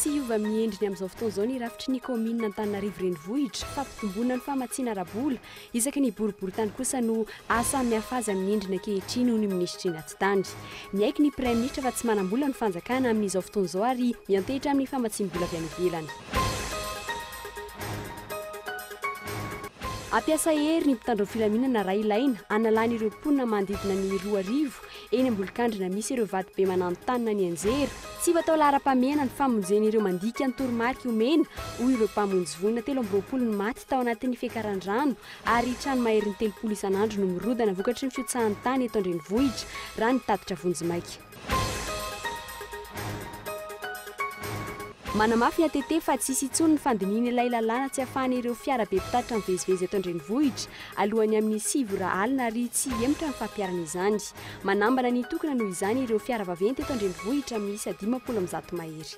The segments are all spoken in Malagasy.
Tsy hiova amin'ny endriny amin'izao fotoana izao ny rafitry ny kaominina Antananarivo Renivohitra, fampitomboana ny famatsiana ara-bola Isaky ny boriborintany kosa no ahasamihàfa azy amin'ny endriny ankehitriny, hoy ny minisitry ny Atitany. Miaiky ny praiminisitra fa tsy manam-bola ny fanjakana amin'izao fotoana izao ary miantehitra amin'ny famatsiam-bola avy any ivelany. Hampiasa hery ny mpitandro ny filaminana raha ilaina, hanalana ireo mponina manodidina ny roa arivo Eny Ambolokandrina misy ireo vato be mananontanona ny anjera. Tsy ho atao laharam-pahamehana ny famonjena ireo mandika ny toromarika omena, hoy ireo mpamonjy voina telo amby roapolo ny maty tao anatin'ny fiakaran'ny rano ary trano maherin'ny telopolo isan'andro no mirodana vokatry ny fiotsahan'ny tany eto an-drenivohitra, raha ny tatitra vonjimaika. Manamafy ny ATT fa tsy hisy intsony ny fandiniana ilay lalàna tsy ahafahan'ireo fiara be mpitatitra mivezivezy eto an-drenivohitra. alohan'ny amin'ny sivy ora alina ary tsy hihemotra ny fampiharana izany. Manambana ny hitokana noho izany ireo fiara vaventy eto an-drenivohitra miisa dimampolo amby zato mahery.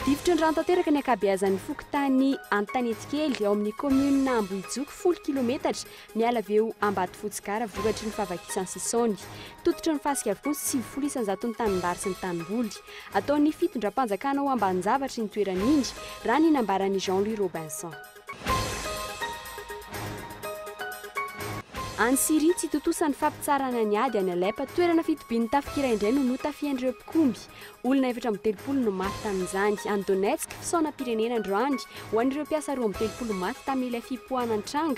Difotra ny rano tanteraka ny ankabeazan'ny fokontany Antanetikely ao amin'ny kaominina Ambohijoko folo kilometatra Miala avy eo Ambatofotsy Gara vokatry ny fahavakisan'ny sisaony. Tototry ny fasika avokoa ny sivifolo isan-jaton'ny tanimbary sy ny tanimboly. Ataon'ny fitondram-panjakana ho ambanin-javatra iny toerana iny, raha ny nambaran'i Jean Louis Robinson. Any Syria, tsy tontosa ny fampitsarana ny ady any Alep. Toerana fitobian'ny tafikira indray no notafihan'ireo mpikomy. Olona efatra amby telopolo no maty tamin'izany. Any Donetsk, fisaonam-pirenena androany ho an'ireo mpiasa roa amby telopolo maty tamin'ilay fipoahanan-tranga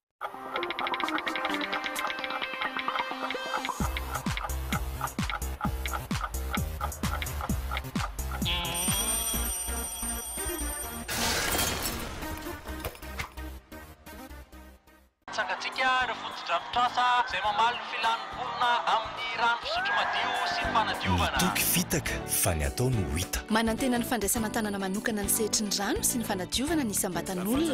Tsangantsika ireo fotodrafitrasa izay mamaly ny filan'ny mponina amin'ny rano fisotro madio sy ny fanadiovana. Ny toky fitaka fa ny atao no hita. Manantena ny fandraisana an-tanana manokana ny sehatry ny rano sy ny fanadiovana ny isam-batan'olona.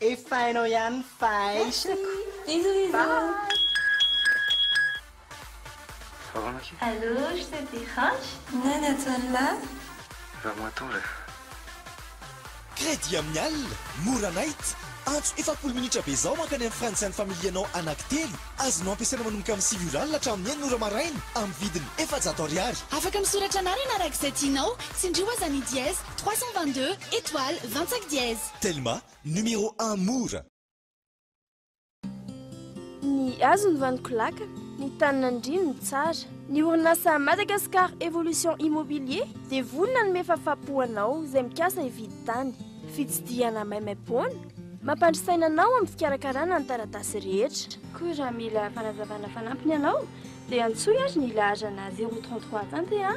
Efa hainao ihany fa aisako. Bisous bisous. Allô, je te dérange? Nani atsy anlah? Ramatoa ref. Crédit amin'ny alina, mora night. Antso efapolo minitra be izao mankany amin'ny Frantsa ny familianao anankitelo. Azonao ampiasaina manomboka amin'ny sivy ora alina hatramin'ny enina ora maraina amin'ny vidiny efajato ariary. Afaka misoratra anarana araka izay tianao, tsindrio aza ny dièse trois cent vingt-deux, étoile, vingt-cinq dièse. Telma, numéro un mora! Ny hazo ny vaniko laka, ny tany nandriany ny tsara. Ny orinasa Madagascar Evolution Immobilier dia vonona hanome fafapo anao izay mikasa hividy tany. Fitsidihana maimaimpoana, mampandry saina anao amin'ny fikarakarana ny taratasy rehetra. Koa raha mila fanazavana fanampiny ianao dia antsoy ary ny laharana zéro trente trois tante a!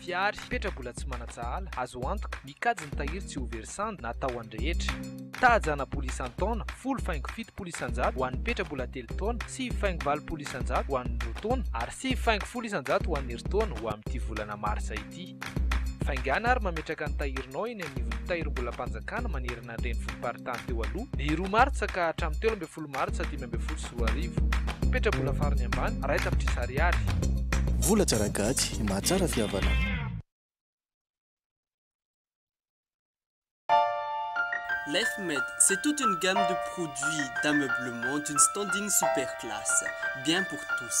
Mpihary fetra mbola tsy manan-tsahala, azo antoka, mikajy ny tahiry tsy ho very sandoka na tahon'ny rehetra. Taha-janapolo isan-taona, folo faingo fitopolo isan-jato ho an'ny petra mbola telo taona, sivy faingo valopolo isan-jato ho an'ny roa taona, ary sivy faingo folo isan-jato ho an'ny herintaona ho amin'ity volana marsa ity. Faingàna ary mametraka ny tahirinao eny anivon'ny Tahirimbolam-panjakana manerana ny. Tanàna an-drenivohi-paritany teo aloha, ny roa Martsa ka hatramin'ny telo ambin'ny folo Martsa dimy ambin'ny folo sy roa arivo. Petra-bola farany ambany, iray tapitrisa ariary. Vola tsara gatsy, mahatsara fihavanana. Lefmed, c'est toute une gamme de produits d'ameublement d'une standing super classe, bien pour tous.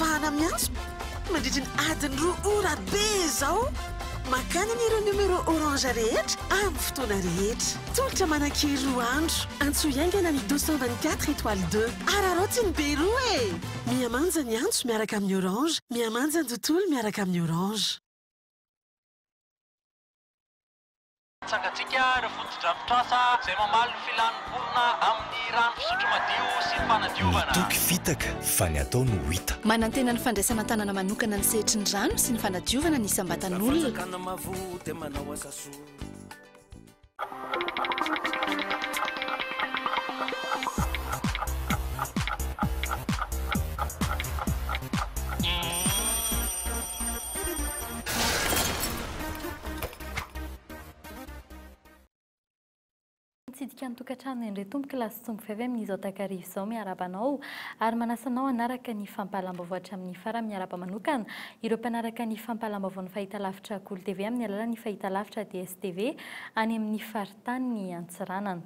Ahafahana miantso mandritry ny adiny roa ora be izao makany an'ireo numéro orange rehetra amin'ny fotoana rehetra. Tolotra manan-kery roa andro. Antsoy haingana ny 224 étoile 2. Araraoty ny be roa e! Mihamanja ny antso miaraka amin'ny orange, mihamanja ny tontolo miaraka amin'ny orange. Tsangantsika ireo fotodrafitrasa izay mamaly ny filan'ny mponina amin'ny rano fisotro madio sy ny fanadiovana. Ny toky fitaka fa ny atao no hita. Manantena ny fandraisana an-tanana manokana ny sehatry ny rano sy ny fanadiovana ny isam-batan'olona. Mitsidika ny tokantrano eny re Tompoko Lasy Tsombofevy amin'izao takariva izao miarahaba anao ary manasa anao hanaraka ny fampahalam-baovao hatramin'ny farany Miarahaba manokana ireo mpanaraka ny fampahalam-baovaon'ny fahitalavitra Golo TV amin'ny alalan'ny fahitalavitra DSTV any amin'ny faritra tany ny Antsiranana.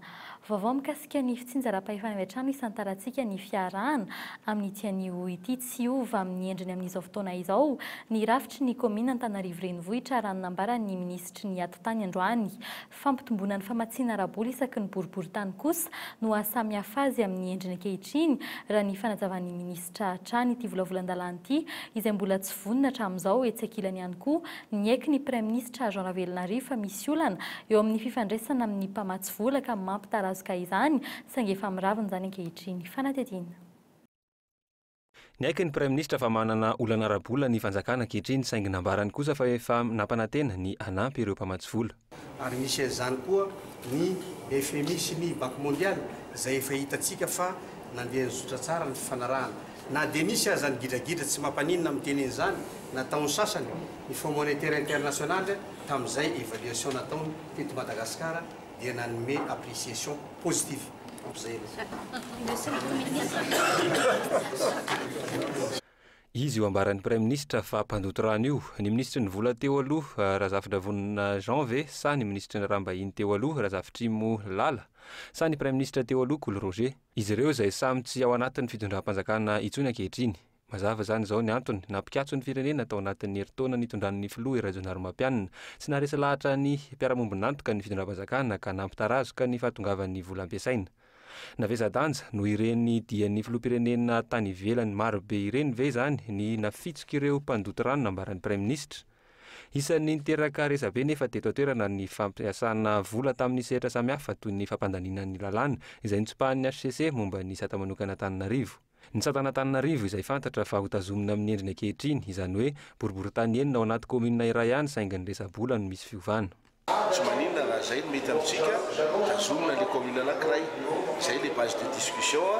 Vaovao mikasika ny fitsinjaram-pahefana avy hatrany no isantarantsika ny fiarahana amin'ity anio ity. Tsy hiova amin'ny endriny amin'izao fotoana izao ny rafitry ny kaominina Antananarivo Renivohitra raha ny nambaran'ny minisitry ny Atitany androany. Fampitomboana ny famatsiana ara-bola isaky ny boriborintany kosa no hahasamihafa azy amin'ny endriny ankehitriny raha ny fanazavan'ny minisitra hatrany. Ity volavolan-dalàna ity izay mbola tsy vonona hatramin'izao etsy ankilany ihany koa Niaiky ny Praiminisitra Jean Ravelonarivo fa misy olana eo amin'ny fifandraisana amin'ny mpamatsy vola ka mampitarazoka izany, saingy efa miravona izany ankehitriny. Fanadihadiana. Niaiky ny Praiminisitra fa manana olana ara-bola ny fanjakana ankehitriny, saingy nambarany kosa fa efa nampanantena ny hanampy ireo mpamatsy vola. Ary misy an'izany koa ny fmi sy ny Banque Mondiale izay efa hitantsika fa nandeha nizotra tsara ny fifanarahana. Na dia nisy aza ny gidragidra tsy mampaninona amin'ny teny an'izany nataon'ny sasany, ny Fonds Monétaire International tamin'izay évaluation nataony teto Madagasikara dia nanome appreciation positive. Ampy izay aloha. Izy io ambaran'ny Praiminisitra fa mpandoto rano io. Ny Minisitry ny vola teo aloha, Razafindravonona Jean ve sa ny Minisitry ny raham-bahiny teo aloha, Razafitrimo Lala? Sa ny Praiminisitra teo aloha, Kolo Roger? Izy ireo izay samy tsy ao anatin'ny fitondram-panjakana intsony ankehitriny. Mazava izany izao ny antony, nampikatso ny firenena tao anatin'ny herintaona nitondran'ny Filoha i Rajaonarimampianina. Tsy naharesy lahatra ny mpiara-mombon'antoka ny fitondram-panjakana ka nampitarazoka ny fahatongavan'ny vola ampiasaina. Navezan-danja noho ireny dian'ny filoham-pirenena tany ivelany maro be ireny ve izany ny nafitsik'ireo mpandoto rano nambaran'ny Praiminisitra? Isan'ny niteraka resabe nefa teto an-toerana ny fampiasana vola tamin'ny sehatra samihafa toy ny fampandaniana ny lalàna izay notsopahan'ny hcc momba ny sata manokana Antananarivo. Nitsata an'Antananarivo izay fantatra fa ho tazomina amin'ny endriny ankehitriny, izany hoe boriborintany enina ao anaty kaominina iray ihany saingy ny resa-bola no misy fiovana. Tsy maninona raha izay no mety amintsika, tazomina ilay kaominina anankiray, izay ilay base de discussion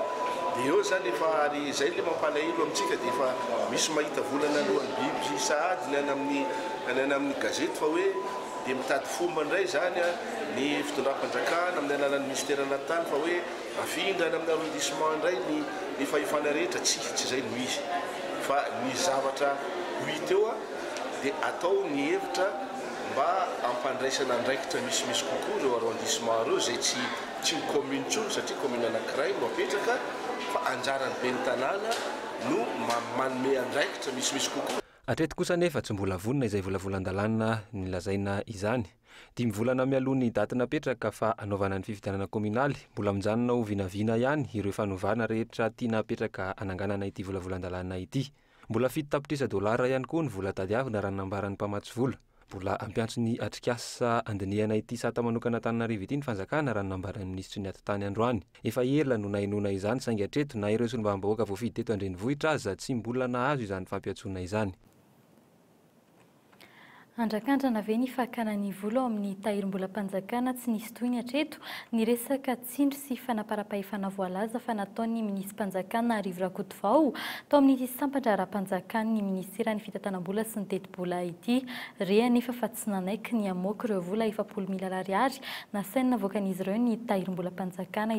dia eo izany efa ary izay ilay mampalahelo amintsika dia efa misy mahita vola naloan'ny biby sahady ny any amin'ny ny any amin'ny gazety fa hoe dia mitady fomba indray izany ny fitondram-panjakana amin'ny alalan'ny minisiteranà tany fa hoe Afindra any amin'ny arrondissement indray ny ny fahefana rehetra, tsia, tsy izay no izy. Fa ny zavatra ho hita eo dia atao ny hevitra mba hampandraisana andraikitra misimisy kokoa ireo arrondissement ireo izay tsy tsy ho commune intsony satria commune anankiray no apetraka fa anjaran'ny ben'ny tanàna no manome andraikitra misimisy kokoa. Hatreto kosa anefa tsy mbola vonona izay volavolan-dalàna nilazaina izany. Dimy volana mialoha ny daty napetraka fa hanaovana ny fifidianana kaominaly, mbola mijanona ho vinavina ihany ireo fanovana rehetra tiana apetraka hananganana ity volavolan-dalàna ity. Mbola fito tapitrisa dolara ihany koa ny vola tadiavina raha ny nambaran'ny mpamatsy vola. Mbola hampiantso ny atrikasa handinihana ity sata manokana Antananarivo ity ny fanjakana raha ny nambaran'ny minisitry ny atitany androany. Efa ela no nahenoana izany saingy hatreto na ireo solombavambahoaka voafidy teto an-drenivohitra aza tsy mbola nahazo izany fampiantsoana izany. Andrakandrana ve ny fakana ny vola ao amin'ny tahirim-bolam-panjakana tsy nisy tohiny hatreto? Ny resaka tsindry sy fanaparam-pahefana voalaza fa nataon'ny minisi-panjakana Rivo Rakotovao tao amin'ity sampan-draharaham-panjakan'ny minisiteran'ny fitantanam-bola sy ny tetibola ity re anefa fa tsy nanaiky ny hamoaka ireo vola efapolo miliara ariary nasainy navoakan'izy ireo ny tahirim-bolam-panjakana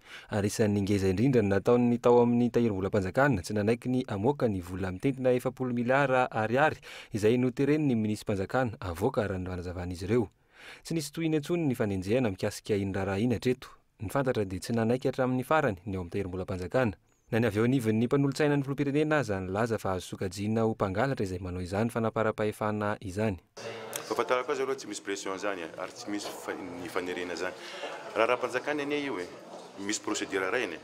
ary isan'ny ngeza indrindra ny nataon'ny tao amin'ny Tahirim-bolam-panjakana, tsy nanaiky ny hamoaka ny vola mitentina efapolo miliara Ariary izay noteren'ny Minisi-panjakana havoaka raha ny fanazavan'izy ireo. Tsy nisy tohiny intsony ny fanenjehana mikasika iny raharaha iny hatreto. Ny fantatra dia tsy nanaiky hatramin'ny farany ny ao amin'ny Tahirim-bolam-panjakana. Na ny avy eo anivon'ny mpanolotsaina ny filoham-pirenena aza nilaza fa azo sokajiana ho mpangalatra izay manao izany fanaparam-pahefana izany. Fahafantarako azy aloha tsy misy pression izany e, ary tsy misy ny fanerena izany. Raharaham-panjakana anie io e, misy procédure arahina e,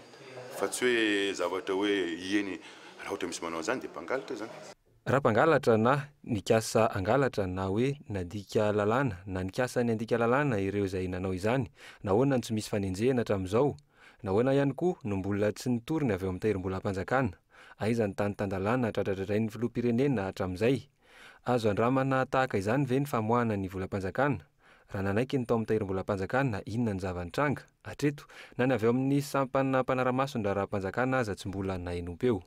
fa tsy hoe zavatra hoe hieny raha ohatra misy manao an'izany dia mpangalatra izany. Raha mpangalatra na nikasa hangalatra na hoe nandika lalàna na nikasa ny handika lalàna ireo izay nanao izany, nahoana no tsy misy fanenjehana hatramin'izao? Nahoana ihany koa no mbola tsy nitory ny avy ao amin'ny Tahirimbolam-panjakana? Aiza ny tany tan-dalàna dradradradrain'ny Filoham-pirenena hatramin'izay? Azo andramana tahaka izany ve ny famoahana ny volam-panjakana? Raha nanaiky ny tao amin'ny Tahirimbolam-panjakana, inona no zava-nitranga? Hatreto, na ny avy ao amin'ny sampana mpanara-mason-draharaham-panjakana aza tsy mbola nahenompeo.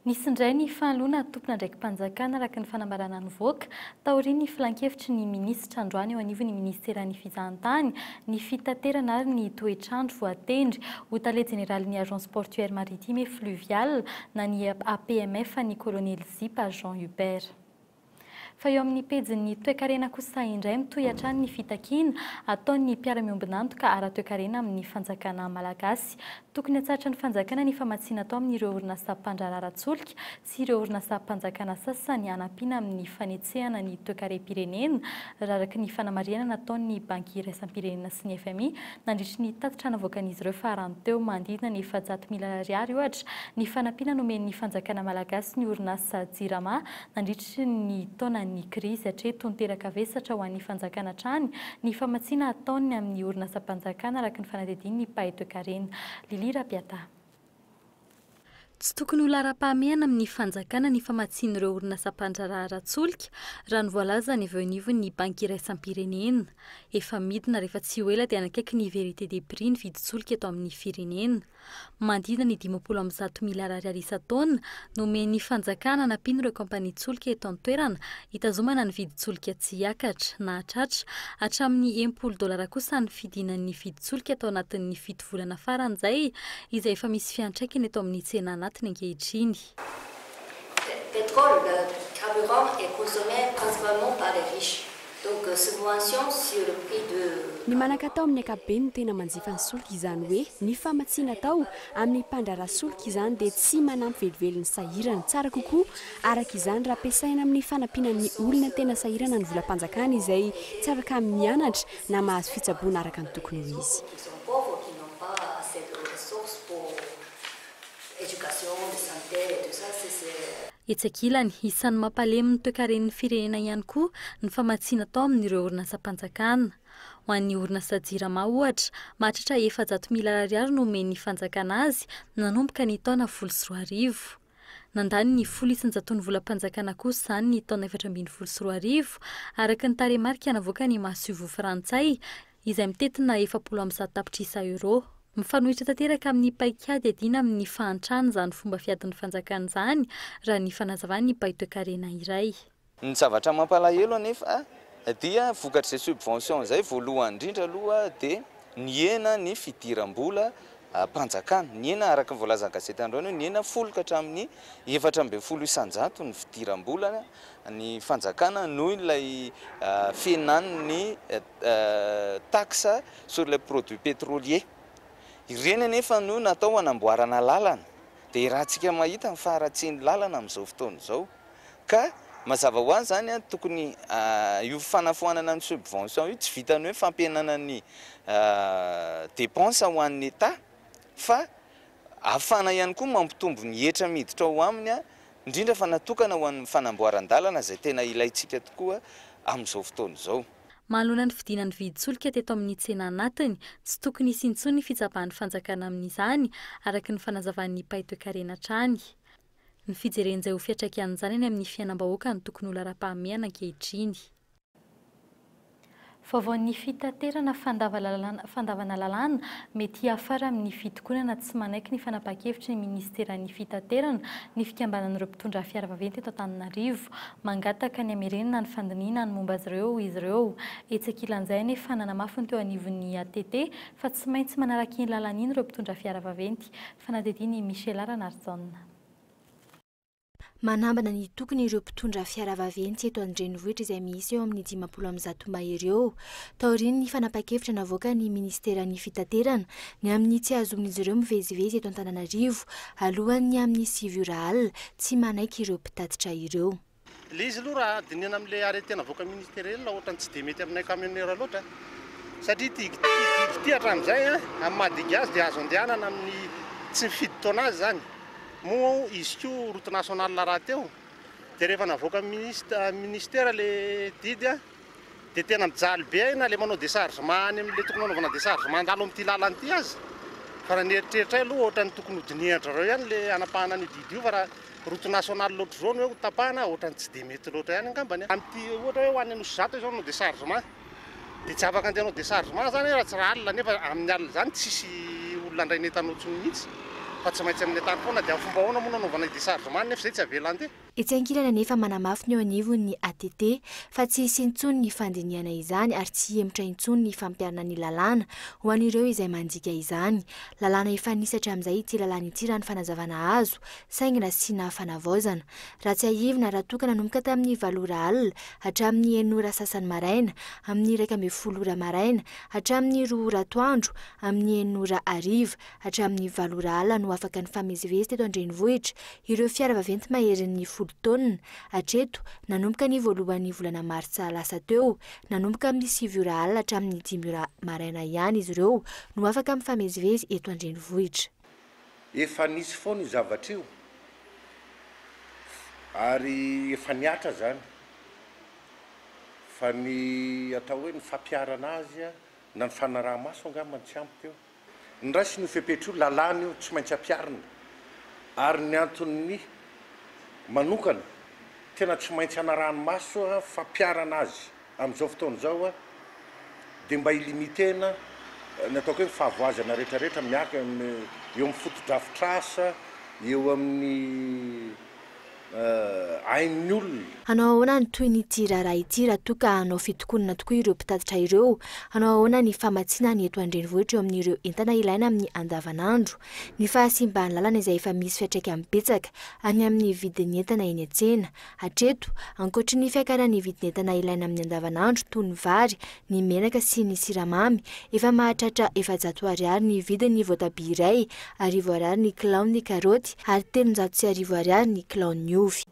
Nisy indray ny fahaloana tompon'andraiki-panjakana araka ny fanambarana nivoaka taorian'ny filankevitry ny minisitra androany eo anivon'ny minisiteran'ny fizahantany, ny fitaterana ary ny toetr'andro voatendry ho tale jeneralin'ny Agence portuaire maritime et fluviale na ny APMF ny kolonely Zipa Jean Hubert. Fa eo amin'ny pejin'ny toekarena kosa indray mitohy hatrany ny fitakiana ataon'ny mpiara-miombon'antoka ara-toekarena amin'ny fanjakana malagasy. Tokony hatsahatra ny fanjakana ny famatsiana atao amin'ireo orinasa mpandraharaha ara-tsolika sy ireo orinasam-panjakana sasany hanampiana amin'ny fanetsehana ny toekarem-pirenena, raraky ny fanamarihana nataon'ny Banky iraisam-pirenena sy ny fmi nandritry ny tatitra navoakan'izy ireo farany teo. Manodidina ny efajato milala ariary ohatra ny fanampiana nomen'ny fanjakana malagasy ny orinasa Jirama, Nandritry ny taonan'ny krizy hatreto, niteraka vesatra ho an'ny fanjakana hatrany ny famatsiana ataony amin'ny orinasam-panjakana, araka ny fanadihadian'ny Paetoekarena. Lily Rapiata. Tsy tokony ho laharam-pahamehana amin'ny fanjakana ny famatsian'ireo orinasam-pandraharaha ara-tsolika, raha ny voalazany avy eo anivon'ny Banky Iraisam-pirenena. Efa midina rehefa tsy ho ela dia hanakaiky ny vérité des prix ny vidin-tsolika eto amin'ny firenena. Manodidina ny dimampolo amby zato miliara ariary isan-taona no omen'ny fanjakana nampian'ireo kaompania tsolika eto an-toerana hitazomana ny vidin-tsolika tsy hiakatra. Nahatratra hatramin'ny enimpolo dolara kosa ny fidinan'ny vidin-tsolika tao anatin'ny fito volana farany izay izay efa misy fiantraikany eto amin'ny tsena anatiny ankehitriny. Pétrole, le carburant est consommé principalement par les riches, donc subvention sur le prix de. Ny manan-katao amin'ny ankapobeny no tena manjifa ny solika, izany hoe ny famatsiana atao amin'ny mpandraharaha solika izany dia tsy manampy velively ny sahirana. Tsara kokoa araka izany raha ampiasaina amin'ny fanampiana ny olona tena sahirana ny volam-panjakana izay tsy afaka mianatra na mahazo fitsaboana araka ny tokony ho izy. Education, ny santé, tout ça c'est c'est. Etsy ankilany, isan'ny mampalemy ny toekaren'ny firenena ihany koa ny famatsiana atao amin'ireo orinasam-panjakana. Ho an'ny orinasa Jirama ohatra, mahatratra efajato milala ariary no omen'ny fanjakana azy nanomboka ny taona folo sy roa arivo. Nandany ny folo isan-jaton'ny volam-panjakana kosa izany ny taona efatra ambin'ny folo sy roa arivo, araka ny tarehimarika navoakan'ny Masoivoho Frantsay, izay mitentina efapolo amby zato tapitrisa euro. Mifanohitra tanteraka amin'ny paikady adiana amin'ny fahantrana izany fomba fiadin'ny fanjakana izany, raha ny fanazavan'ny mpaitoekarena iray. Ny zavatra mampalahelo anefa dia vokatr'izay subvention izay voalohany indrindra aloha dia nihena ny fidiram-bola am-panjakana. Nihena, araka ny voalazan'ny gazety androany, hoe nihena folo ka hatramin'ny efatra ambin'ny folo isan-jato ny fidiram-bola ny fanjakana noho ilay fihenan'ny taxe sur les produits pétroliers. Ireny anefa no natao hanamboarana lalana. Dia iarahantsika mahita ny faharatsian'ny lalana amin'izao fotoana izao. Ka mazava ho azy izany, tokony io fanafoanana ny subvention io tsy vitan'ny hoe fampihenana ny dépenses ho an'ny Etat fa ahafahana ihany koa mampitombo ny hetra miditra ao aminy, indrindra fa natokana ho an'ny fanamboaran-dalana izay tena ilaintsika tokoa amin'izao fotoana izao. Manoloana ny fidinan'ny vidin-tsolika teto amin'ny tsena anatiny, tsy tokony hisy intsony ny fitsabahan'ny fanjakana amin'izany, araka ny fanazavan'ny mpay toekarena hatrany. Ny fijerena izay ho fiantraikan'izany any amin'ny fiainam-bahoaka no tokony ho laharam-pahamehana ankehitriny. Vaovaon'ny fitaterana fandavalala fandavana lalàna mety hiafara amin'ny fitokonana, tsy manaiky ny fanapahan-kevitry ny minisiteran'ny Fitaterana ny fikambanan'ireo mpitondra fiara vaventy eto Antananarivo. Mangataka ny hamerenana ny fandinihina ny momba azy ireo izy ireo. Etsy ankilan'izay anefa, nanamafy ny teo anivon'ny ATT fa tsy maintsy manaraka iny lalana iny ireo mpitondra fiara vaventy. Fanadihadian' i Michela Ranarijaona. Manambana ny tokony ireo mpitondra fiara vaventy eto an-drenivohitra izay miisa eo amin'ny dimampolo amin'ny zato mahery eo. Taorian'ny fanapahan-kevitra navoakan'ny minisiteran'ny Fitaterana ny amin'ny tsy hahazoan'izy ireo mivezivezy eto Antananarivo alohan'ny amin'ny sivy ora alina, tsy manaiky ireo mpitatitra ireo. Ilay izy aloha raha dinihana amin'ilay arrêté navoakan'ny minisitera iny ohatran'ny tsy dia mety aminay camionneurs loatra satria ity guide ity hatramin'izay amin'ny maha digue azy dia azo andehanana amin'ny tsy mifidy taona azy izany moa izy koa route nationale rahateo dia rehefa navoakan'ny minisitera ilay didy dia tena mijaly be ahy na ilay manao dechargement any amin'ilay tokony hanaovana dechargement handalo amin'ity lalana ity aza fa raha ny eritreritray aloha ohatran'ny tokony hodinihindry zareo ihany ilay hanapahana an'io didy io fa raha route nationale loatra izao no hoe hotapahana ohatran'ny tsy dia mety loatra ihany angambany a. Amin'ity ohatra hoe ho any Anosizato izao hanao dechargement dia tsy afaka handeha hanao dechargement izany ianao raha tsy raha alina nefa amin'ny alina izany tsisy olona handray ny entanao intsony mihitsy fa tsy maintsy amin'ny an-tany foana dia amin'ny fomba ahoana moa no hanaovana io dechargement io nefa izay tsy avela handeha? Etsy ankilany anefa manamafy ny eo anivon' ny ATT fa tsy hisy intsony ny fandinihana izany ary tsy hihemotra intsony ny fampiharana ny lalàna ho an' ireo izay mandika izany. Lalàna efa nisy hatramin'izay ity lalàna ity raha ny fanazavana azo saingy nasiana fanavaozana. Raha tsiahivina, raha toa ka nanomboka tamin'ny valo ora alina hatramin'ny enina ora sasany maraina, amin'ny iraika ambin'ny folo ora maraina hatramin'ny roa ora atoandro, amin'ny enina ora hariva, Hatramin'ny valo ora alina no afaka nifamezivezy teto an-drenivohitra ireo fiara vaventy maherin'ny folo taonina. Hatreto, nanomboka ny voalohan'ny volana martsa lasa teo, nanomboka amin'ny sivy ora alina hatramin'ny dimy ora maraina ihany izy ireo no afaka mifamezivezy eto an-drenivohitra. Efa nisy foana io zavatra io ary efa nihatra izany fa ny atao hoe ny fampiharana azy na ny fanaraha-maso angamba no tsy ampy teo. Ny raisiny io fepetra io, lalàna io, tsy maintsy ampiharina. Ary ny antony manokana tena tsy maintsy anarahany maso fampiharana azy amin'izao fotoana izao dia mba hi-limiter-na ny ataoko hoe ny fahavoazana rehetrarehetra miank eo amin'ny fotodrafitrasa, eo amin'ny ain'ny olona. Hanao ahoana ny tohin'ity raharaha ity raha toa ka hanao fitokonana tokoa ireo mpitatitra ireo? Hanao ahoana ny famatsiana ny eto an-drenivohitra eo amin'ireo entana ilaina amin'ny andavanandro? Ny fahasimban'ny lalana izay efa misy fiantraikany betsaka any amin'ny vidin'ny entana eny an-tsena. Hatreto, ankoatry ny fiakaran'ny vidin'entana ilaina amin'ny andavanandro toy ny vary, ny menaka sy ny siramamy, efa mahatratra efajato Ariary ny vidin'ny voatabia iray, arivo Ariary ny kilaon'ny karaoty ary telonjato sy arivo Ariary ny kilaon'ny ovy.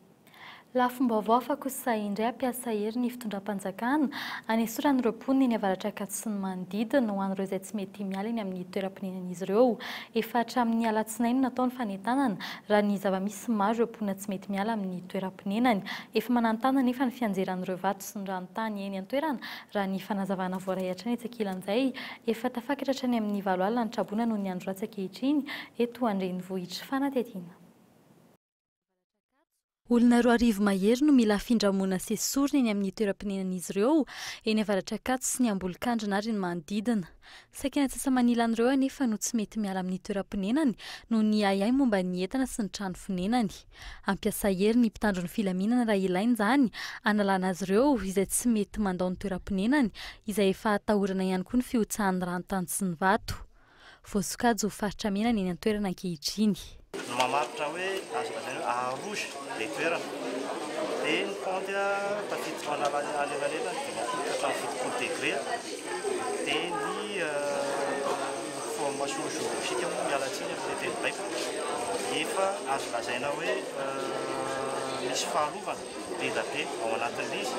Lafim-baovao hafa kosa indray hampiasa hery ny fitondram-panjakana hanesorana ireo mponina eny Avaratra Ankatso sy ny manodidina ho an'ireo izay tsy mety miala eny amin'ny toeram-ponenan'izy ireo. Efa hatramin'ny alatsinainy natao ny fanentanana raha ny zava-misy maro ireo mponina tsy mety miala amin'ny toeram-ponenany. Efa manantana anefa ny fianjeran'ireo vato rano sy ny ranontany eny an-toerana, raha ny fanazavana voaray hatrany etsy ankilan'izay. Efa tafakatra hatrany amin'ny valo alina ny traboina noho ny andro ratsy ankehitriny eto an-drenivohitra Fanantenina. Olona roa arivo mahery no mila findramoana sy esorina eny amin'ny toeram-ponenan'izy ireo eny Avaratr'Ankatso sy ny Ambolokandrina ary ny manodidina. Saiky ny antsasa-manila an'ireo anefa no tsy mety miala amin'ny toeram-ponenany noho ny ahiahy momba ny entana sy ny trano fonenany. Hampiasa hery ny mpitandro ny filaminana raha ilaina izany hanalana azy ireo izay tsy mety mandao ny toeram-ponenany izay efa atahorana ihany koa ny fihotsahan'ny ranontany sy ny vato. Voasokajy ho faritra mena ny eny an-toerana ankehitriny. no mamaritra hoe azo lazaina hoe A rouge ilay toerana. Dia ny pente tafiditra manala ny anelanelany dimampolo ka hatramin'ny fitopolo degre dia ny Formation juridique moa miala tsiny amin'ilay teny baiko efa azo lazaina hoe misy fahalovana ela be ao anatin'ilay izy.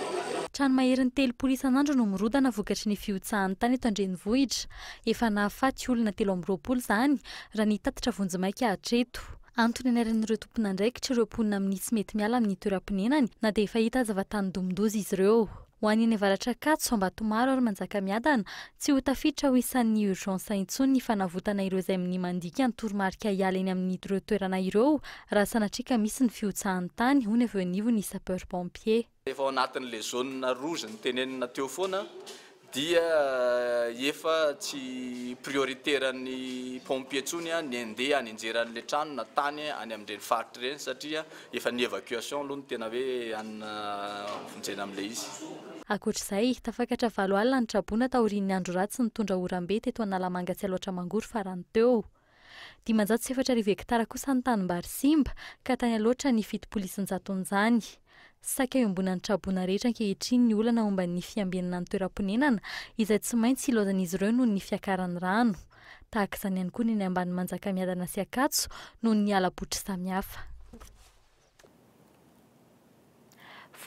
Trano maherin'ny telopolo isan'andro no mirodana vokatry ny fihotsahan'ny tany eto an-drenivohitra. Efa nahafaty olona telo amby roapolo izany, raha ny tatitra vonjimaika hatreto. Antony anairin'ireo tompon'andraikitra ireo mponina minia tsy mety miala amin'ny toeram-ponenany na dia efa hita aza fa tany domindoza izy ireo. Ho an'iny avaratra Ankatso, Ambatomaro ary Manjakamiadana, tsy ho tafiditra ho isan'ny urgence intsony ny fanavotana ireo izay minia mandika ny toromarika hiala eny amin'ireo toerana ireo raha sanatria ka misy ny fihotsahan'ny tany, hoy ny avy eo anivon'ny sapeurs pompiers. Efa ao anatin'ilay zone rouge notenenina teo foana dia efa tsy prioritaire-n'ny pompiers intsony ny handeha hanenjera an'ilay trano na tany any amin'ireny faritra ireny satria Efa ny evacuation aloha no tena hoe anona vonjena amin'ilay izy. Ankoatra izay, tafakatra valo alina ny traboina taorian'ny andro ratsy nitondra oram-be teto Analamanga sy Alaotra-Mangoro farany teo. Dimanjato sy efatra arivo hektara kosa ny tanimbary simba ka tany Alaotra ny fitopolo isan-jaton'izany. Saika iombonan'ny traboina rehetra ankehitriny ny olana momba ny fiambenana ny toeram-ponenana izay tsy maintsy ilaozan'izy ireo noho ny fiakaran'ny rano. Tahaka izany ihany koa ny eny Ambanimanjakamiadana sy Ankatso noho ny hala-botry samihafa.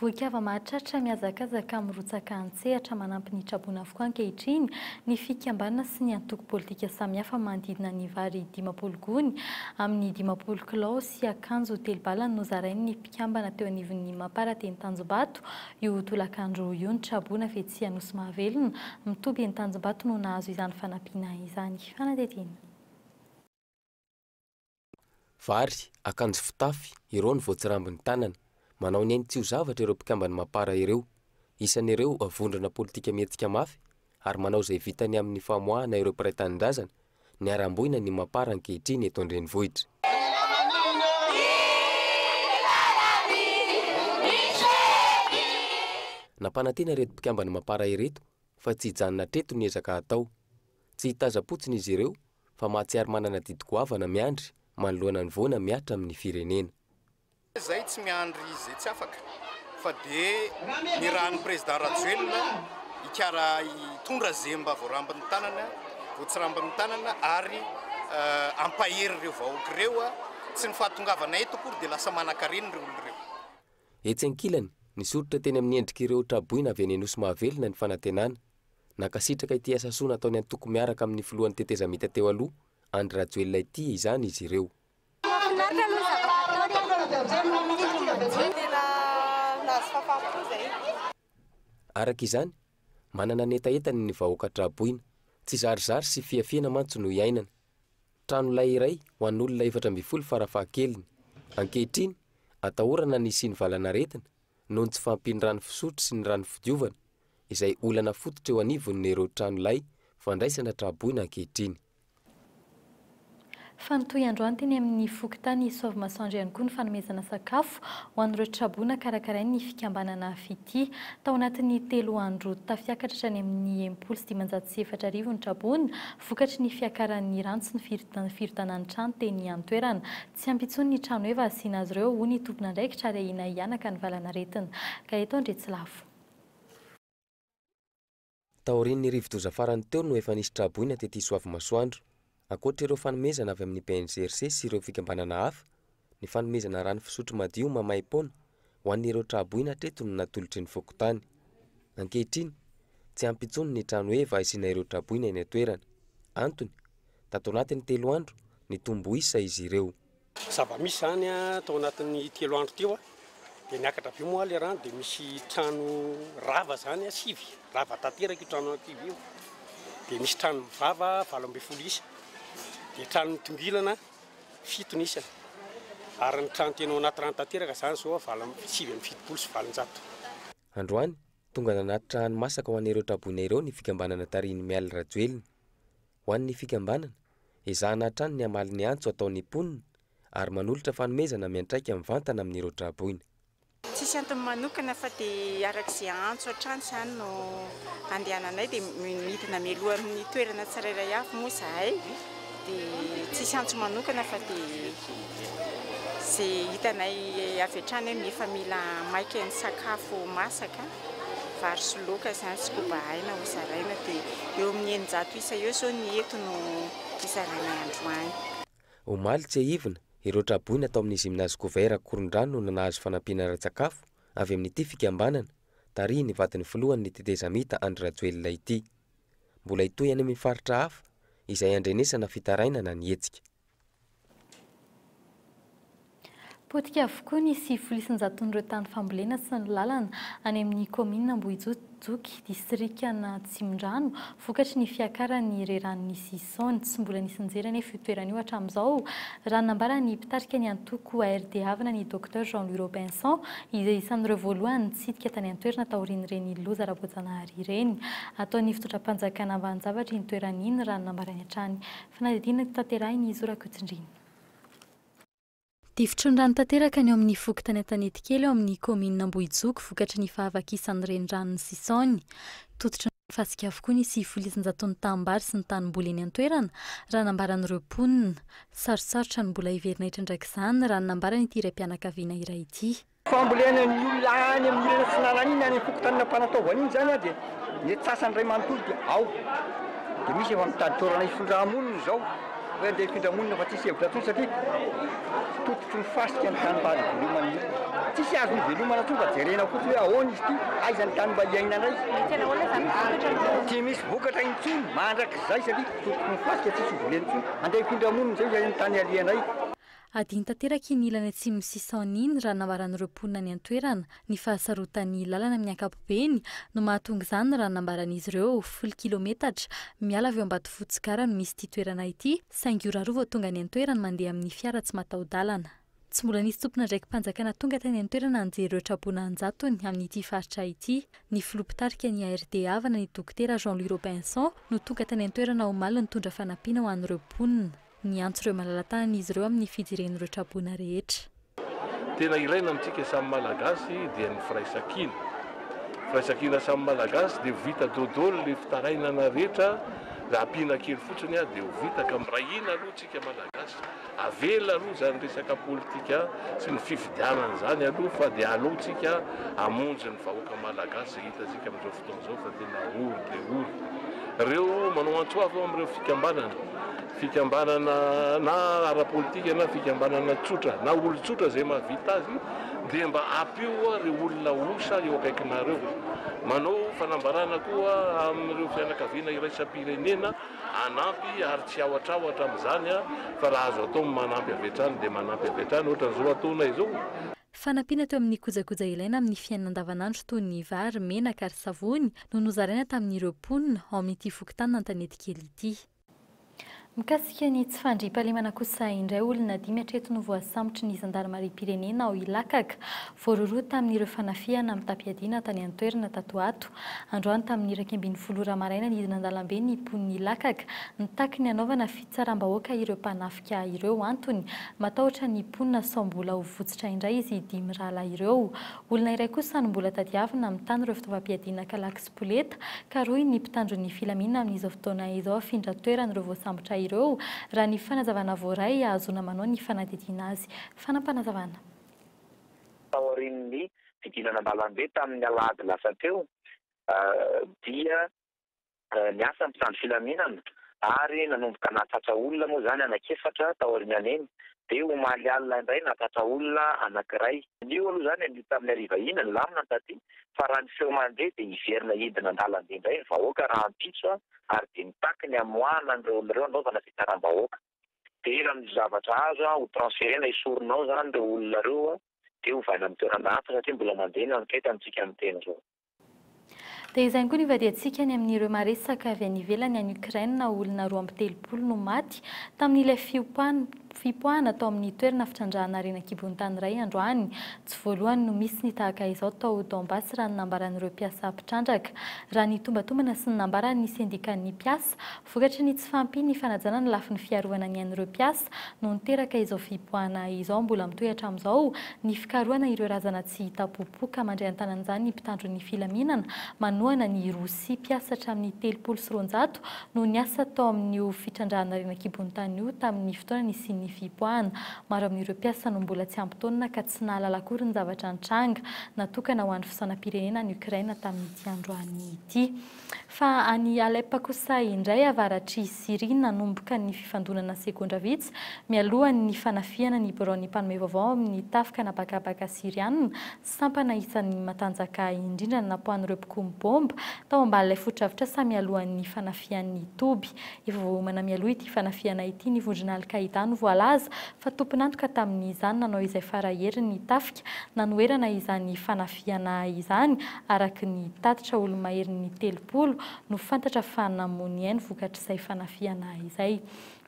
Vohikava mahatratra mihazakazaka mirotsaka an-tsehatra manampy ny traboina avokoa ankehitriny ny fikambanana sy ny antoko politika samihafa manodidina ny vary dimampolo gony amin'ny dimampolo kilao sy akanjo telo bala nozarain'ny Mpikambana teo anivon'ny Mapar teny Tanjombato io tolakandro io ny traboina fetsy Anosimahavelona. Mitoby eny Tanjombato no nahazo izany fanampiana izany. Fanadihadiana. Vary, akanjo fitafy, ireo no voatsirambin'ny tanana. Manao ny ainy tsy ho zavatra ireo mpikamban'ny Mapar ireo. Isan'ireo vondrona politika mihetsika mafy ary manao izay vitany amin'ny famoahana ireo mpiray tanindrazana niharam-boina ny Mapar ankehitriny eto an-drenivohitra. Nampanantena ireto mpikamban'ny Mapar ireto fa tsy hijanona hatreto ny ezaka hatao. Tsy hitazam-potsiny izy ireo fa mahatsiaro manana adidy goavana miandry manoloana ny voina mihatra amin'ny firenena. Zay tsy miandry izay tsy afaka fa de ny rahan'ny président Rajoelina ikara itondra zemba voarambin'ny tanana voatsirambin'ny tanana ary ampahery ireo vahoaka ireo tsy ny fahatongavana eto akory de lasa manakarena ireo olona ireo. Etsy ankilany, nisoritra teny amin'ny endrik'ireo traboina avy eny Anosimahavelona ny fanantenana. Nankasitraka ity asa soa nataon'ny antoko miaraka amin'ny filohan'ny tetezamita teo aloha, Andry Rajoelina ity izany izy ireo. Mahafinaritra aloha ny zavatra ataony. Tena nahazo fahafaham-po izay. Araka izany, manana ny hetahetany ny vahoaka tra-boina. Tsizarizary sy fihafiana mantsy no iainana. Trano lay iray ho an'olona efatra ambin'ny folo farafahakeliny. Ankehitriny, atahorana ny hisian'ny valan'aretina noho ny tsy fahampian'ny rano fisotro sy ny rano fidiovana, izay olana fototra eo anivon'ireo trano lay fandraisana tra-boina ankehitriny. Fa mitohy androany teny amin'ny fokontany Soave Masoandro ihany koa ny fanomezana sakafo ho an'ireo traboa nakarakarain'ny fikambanana Fitia. Tao anatin'ny telo andro tafiakatra hatrany amin'ny enimpolo sy dimanjato sy efatra arivo ny traboina vokatry ny fiakaran'ny rano sy ny firodanan'ny trano teny an-toerana. Tsy ampy intsony ny tranoheva hasiana azy ireo hoy ny tompon'andraikitra ary ahiana hihanaka ny valanaretina. Gaëtan Andriatsilavo. Taorian'ny rivodoza farany teo no efa nisy tra-boina tety Soavimasoandro. Ankoatra ireo fanomezana avy amin'ny BNGRC sy ireo fikambanana hafa, ny fanomezana rano fisotro madio maimaim-poana ho an'ireo tra-boina hatreto no natolotry ny fokontany. Ankehitriny, tsy ampy intsony ny trano heva hisiana ireo tra-boina eny an-toerana. Antony, tato anatin'ny telo andro, nitombo isa izy ireo. Zava-misy izany tao anatin'ny telo andro teo dia niakatra be moa ilay rano dia misy trano rava izany sivy, rava tanteraka io trano an'ity vy io, dia misy trano mivava valo ambin'ny folo isa, dia trano mitongilana fito ny isany ary ny trano tena ao anaty rano tanteraka izany izao valo amby sivy amby fitopolo sy valonjato. Androany, tonga nanatitra hani-masaka ho an'ireo traboina ireo ny fikambanana tarihin'i Mialy Rajoelina. Ho an'ny fikambanana, Ezahana hatrany ny hamaly ny antso ataon'ny mponina ary manolotra fanomezana miantraika mivantana amin'ireo tra-boina. Tsisy antony manokana fa dia araka izay antso hatrany izany no andehananay dia midina mialoha amin'ny toerana tsirairay avy moa izahay dia tsisy antso manokana fa dia izay hitanay avy hatrany hoe efa mila maika ny sakafo masaka. vary sy laoka izany sy koba aina ho zaraina dia eo amin'ny eninjato isa eo izao ny eto no hizarainay androany. Omaly tsiahivina, ireo tra-boina tao amin'ny Gymnase Couvert Ankorondrano no nahazo fanampiana ara-tsakafo avy amin'ity fikambanana tarihin'ny vadin'ny filohan'ny tetezamita Andry Rajoelina ity. Mbola hitohy any amin'ny faritra hafa izay handrenesana fitarainana ny hetsika. Potika avokoa ny sivy folo isan-jaton'ireo tany fambolena sy ny lalana any amin'ny kaominina Ambohijoky, distrikan'Atsimondrano, vokatry ny fiakaran'ny reran'ny Sison. Tsy mbola nisy nijery anefa io toerana io hatramin'izao, raha ny nambaran'ny mpitarika ny antoko ARD Havana, ny Docteur Jean Louis Robinson, izay isan'ireo voalohany nitsidika tany an-toerana taorian'ireny loza ara-boajanahary ireny. Ataon'ny fitondram-panjakana ambanin-javatra iny toerana iny, raha ny nambarany hatrany. Fanadihadiana notanterahin' i Zora Kotsindrina. Difotr'nrano tanteraka ny ao amin'ny fokontany Antanetikely ao amin'ny kaominina Ambohijoko vokatry ny fahavakisan'ny reniranon'i Sisaony. Tototry ny rano fasika avokoa ny sivifolo isanjaton'ny tanimbary sy ny tanimboly eny an-toerana, raha nambaran'ireo mponina. Sarotsarotra ny mbola hiverina hitrandrak'izany, raha ny nambaran'ity raim-pianakaviana iray ity. Fambolena ny olona any amin'ny ilany atsinanana iny, any amin'ny fokontanina Ampanantaovana iny izany dia ny antsasany iray manontolo dia ao. Dia misy efa mitady toerana hifindra-hamonina izao hoe andeha hifindra monina fa tsisy hevitra intsony satria tototry ny fasika ny tanimbary ivelomany io. Tsisy azony ivelomana intsony fa jerena fotsiny hoe ahoana izy ity, aiza ny tany mba hiainana indray. Mety hanao ahoana izany ny vokatra amin'izao? Tsy misy vokatra intsony mandrakizay satria tototry ny fasika tsisy ho volena intsony. Andeha hifindra monina izay hoy izy any amin'ny tany ialehanay. Hadino tanteraka iny ilany atsimon'i Sisan iny raha nambaran'ireo mponina any an-toerana. Ny fahasarotan'ny lalana amin'ny ankapobeny no mahatonga izany raha nambaran'izy ireo. Folo kilometatra miala avy ao Ambatofotsy Gara no misy ity toerana ity saingy ora roa vao tonga any an-toerana mandeha amin'ny fiara tsy mataho-dalana. Tsy mbola nisy tompon'andraiki-panjakana tonga tany an-toerana hanjery ireo traboina an-jatony amin'ity faritra ity. Ny filoha mpitarika ny ARD havana ny Dokotera Jean Louis Robinson no tonga tany an-toerana omaly nitondra fanampiana ho an'ireo mponina. Niantso ireo malala-tanana izy ireo amin'ny fijeren'ireo traboina rehetra. Tena ilaina amintsika samy Malagasy dia ny firaisankina. Firaisankina samy Malagasy dia ho vita dodol ny fitarainana rehetra raha ampiana kely fotsiny dia ho vita ka miray hina aloha tsika Malagasy avela aloha izany resaka politika sy ny fifidianana izany aloha fa dia aleo tsika hamonjy ny vahoaka Malagasy izay hitantsika amin'izao Fotoan'izao fa tena ory dia ory ireo manao antso avo amin'ireo fikambanana, fikambanana na ara-politika na fikambanana tsotra na olon-tsotra izay mahavita azy dia mba ampio ireo olona osa eo akaikinareo. Manao fanambarana koa amin'ireo fianakaviana iraisam-pirenena hanampy ary tsy hahoatrahoatra amin'izany fa raha azo atao ny manampy avy hatrany dia manampy avy hatrany ohatran'izao ataonay izao. Fanampiana teo amin'ny kojakoja ilaina amin'ny fiainana andavanandro toy ny vary, menaka ary savony no nozaraina tamin'ireo mponina ao amin'ity fokontany Antanety kely ity. Mikasika ny tsy fandriampahalemana kosa indray, olona dimy hatreto no voasambotry ny zandarimariam-pirenena ao Ilakaka. Voarohirohy tamin'ireo fanafihana mitam-piadiana tany an-toerana tato ho ato. Androany tamin'ny iraika ambin'ny folo ora maraina nidina an-dalambe ny mponin'Ilakaka nitaky ny hanaovana fitsaram-bahoaka ireo mpanafika. Ka ireo antony, matahotra ny mponina sao mbola ho votsotra indray izy dimy rahalahy ireo. Olona iray kosa no mbola tadiavina mitana ireo fitaovam-piadiana kalaky sy poleta, karohiny ny mpitandro ny filaminana amin'izao fotoana izao hafindra toerana ireo voasambotra ireo, raha ny fanazavana voaray hahazoana manao ny fanadidiana azy. Fanam-panazavana. Taorian'ny fidinana an-dalambe tamin'ny alahady lasa teo dia Niasa ny mpitandro filaminana ary nanomboka nahatratra olona moa izany anankiefatra taorian'ny haneny, dia omaly alina indray nahatratra olona anankiray. Anio aloha izany, anio tamin'ny hariva iny, nilamina ny taty, fa raha ny feo mandre dia hiverina hidina an-dalamby indray ny vahoaka rahampitso ary dia mitaky ny hamoahana an'ireo olona ireo hanaovana fitsaram-bahoaka. Dia raha misy zavatra azo ho transfert-na esorina ao izany ireo olona ireo dia ovaina amin'ny toerana hafa satria mbola mandeha ny ankety amintsika miteny izao. Dia izany koa ny vadiantsika any amin'ireo maresaka avy any ivelany any Ukraine, olona roa amby telopolo no maty tamin'ilay fipoahana tao amin'ny toerana fitrandrahana harena an-kibon-tany iray androany. Tsy voalohany no misy ny tahaka izao tao Donbas raha ny nambaran'ireo mpiasa mpitrandraka. Raha ny tombantombana sy ny nambaran'ny sendikan'ny mpiasa, Vokatry ny tsy fahampian'ny fanajana ny lafiny fiarovana ny ain'ireo mpiasa no niteraka izao fihibohana izao. Mbola mitohy hatramin'izao ny fikarohana ireo razana tsy hita popoka. Mandray an-tanan'izany ny mpitandro ny filaminana manohana ny Rosia. Mpiasa hatramin'ny telopolo sy roanjato no niasa tao amin'io fitrandrahana ren'an-kibon'tany io tamin'ny fotoana nisian'ny fihibohana. Maro amin'ireo mpiasa no mbola tsy ampy taonina ka tsy nahalala akory ny zavatra nitranga. Natokana ho an'ny fisaonam-pirenena any Ukraine tamin'ity androany ity. Fa any Alep kosa indray avaratr'i Syria nanomboka ny fifandonana segondra vitsy mialoha ny fanafihana ny biraon'ny mpanome vaovao ao amin'ny tafika an'habakabaka Syriana, sampana isan'ny matanjaka indrindra napoahan'ireo mpikomy baomba tao ambanin'ilay fotodrafitrasa mialohan'ny fanafihan'ny toby efa voaomana mialoha ity fanafihana ity. Ny vondrona Al-Qaida no voalaza fa tompon'antoka tamin'izany nanao izay fara heriny ny tafika nanoherana izany fanafihana. Biana izany, araka ny tatitra olo-maherin'ny telopolo no fantatra fa namoa ny ainy vokatr'izay fanafihana izay.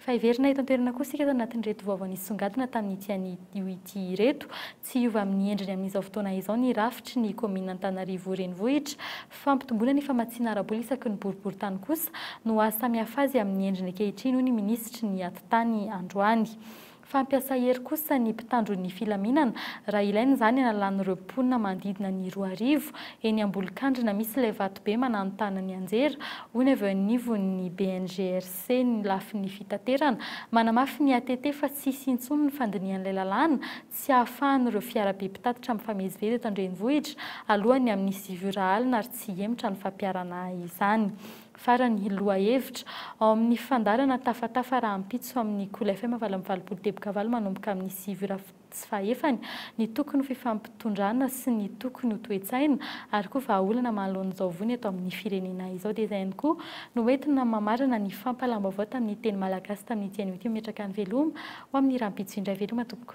Fa heverina eto an-toerana kosa isika eto anatin'ireto vaovao nisongadina tamin'ity anio ity ireto, tsy hiova amin'ny endriny amin'izao fotoana izao ny rafitry ny kaominina Antananarivo Renivohitra. Fampitomboana ny famatsiana ara-bola isaky ny boriborintany kosa no haha-samy hafa azy amin'ny endriny ankehitriny hoy ny minisitry ny atitany androany. Fampiasa hery kosa ny mpitandro ny filaminana, raha ilaina izany hanalan'ireo mponina manodidina ny roa arivo eny Ambolokandrina misy ilay vatobe mananotana ny Anjera, hoy ny avy eo anivon'ny BNGRC ny lafiny fitaterana. Manamafy ny ATT fa tsy hisy intsony ny fandinihan'ilay lalàna, tsy hahafahan'ireo fiarabe mpitatitra mifamezivezy eto an-drenivohitra alohan'ny amin'ny sivy ora alina ary tsy hihemotra ny fampiharana izany. Farany, lohahevitra, ao amin'ny fandaharana Tafatafa rahampitso amin'ny Cool FM valo amby valopolo teboka valo manomboka amin'ny sivy ora sy fahefany, ny tokony ho fifampitondrana sy ny tokony ho toe-tsaina ary koa vahaolana manoloan'izao voina eto amin'ny firenena izao dia izay ihany koa no entina mamarana ny fampahalam-baovao tamin'ny teny malagasy tamin'ity anio ity mimetraka ny veloma ho amin'ny rahampitso indray veloma tompoko.